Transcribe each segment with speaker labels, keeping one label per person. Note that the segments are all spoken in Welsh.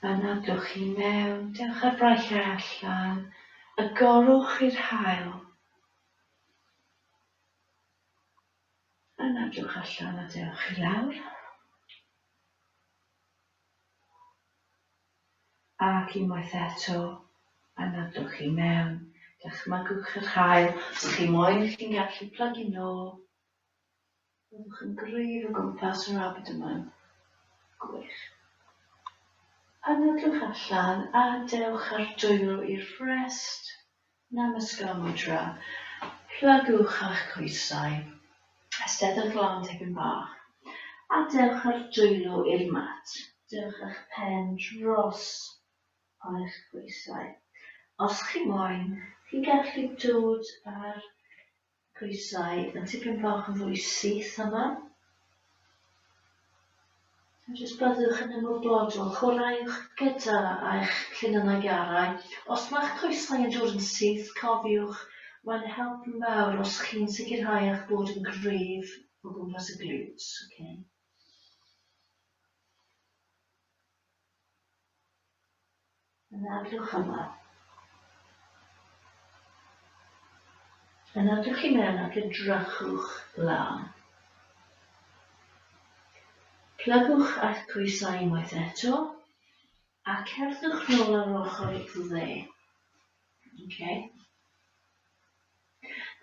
Speaker 1: Yna dowch i mewn, dewch â'r braich allan, a gorwch i'r haul. Yna dowch allan a dewch i lawr. Ac unwaith eto, yna dowch i mewn, dychmygwch yr haul, os chi moyn chi'n gallu plygu nôl. Byddwch yn gwreidd o gwmpas yr abdomen. Gwych. Anadlwch allan a dewch â'r dwylo i'r frest, Namaskar Mudra. Plygwch â'ch coesau. Esteddwch lan tipyn bach. A dewch â'r dwylo i'r mat. Dewch â'ch pen dros eich coesau. Os chi moyn, chi'n gallu dod â'r Coesau yn tipyn bach yn fwy syth yma. A jyst byddwch yn ymwybodol, chwaraewch gyda eich llinynnau garau. Os mae'ch coesau yn dod yn syth, cofiwch, mae'n help mawr os chi'n sicrhau eich bod yn gryf o gwmpas y glutes. Okay. Yn edrych ymlaen. Yn edrych i mewn ac edrychwch lan. Plygwch a'ch coesau unwaith eto a cerddwch nôl ar ochr y dde. Okay.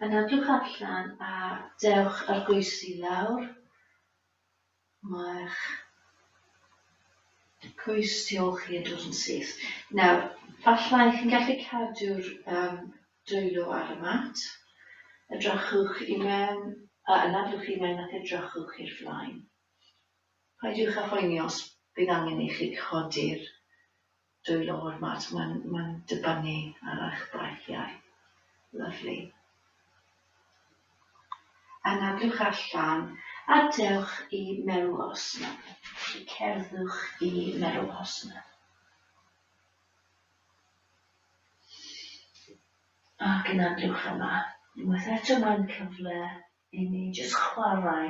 Speaker 1: Yn edrych allan a dewch ar goesi lawr Mae'r cwis tu ôl chi yn dod yn syth. Nawr, fallai chi'n gallu cadw'r um, dwylo ar y mat. Edrychwch i mewn, a anadlwch i mewn ac edrychwch i'r flaen. Paidwch â phoeni os bydd angen i chi codi'r Dwylo o'r math, mae'n mae'n dibynnu ar eich braethiau. Lyfli. Anadlwch allan a dewch i Merwhosna. Cerddwch i Merwhosna. Ac anadlwch yma. Unwaith eto mae'n cyfle i ni jyst chwarae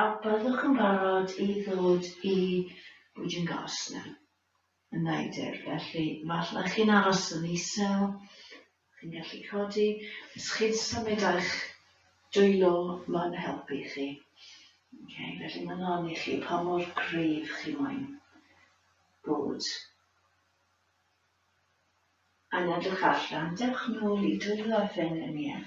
Speaker 1: A byddwch yn barod i ddod i Bwdin Gosnell yn Neidyr, felly falle chi'n aros yn isel, chi'n gallu codi, os chi'n symud a'ch dwylo mae'n helpu chi. Ok, felly mae'n lan i chi pa mor gryf chi moyn bod. Yn edrych allan, dewch nôl i dwylo a phengliniau.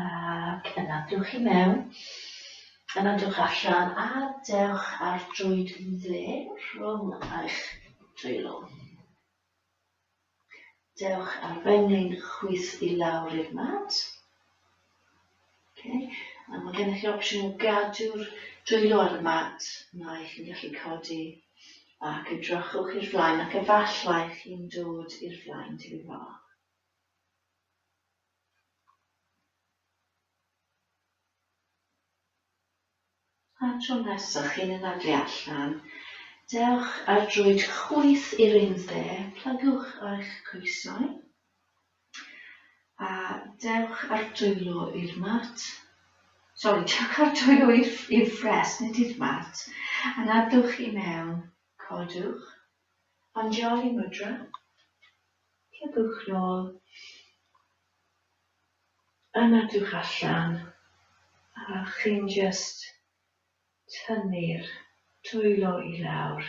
Speaker 1: Ac yna dewch i mewn, yna dewch allan a dewch ar drwyd dde rhwng eich dwylo. Dewch ar fenyn chwith i lawr i'r mat. Okay. A mae gennych chi opsiwn o gadw'r dwylo ar y mat, neu chi'n gallu codi ac edrychwch i'r flaen ac efallai chi'n dod i'r flaen tipyn bach. A'r tro nesa chi'n yna dwi allan, dewch ar droed chwith i'r un dde, plygwch eich coesau, a dewch ar dwylo i'r mat, sori, dewch ar dwylo i'r ffres, nid i'r mat, a nadwch i mewn, codwch Anjali Mudra, cliciwch nôl, yn edrych allan a chi'n jyst tynnu'r dwylo i lawr.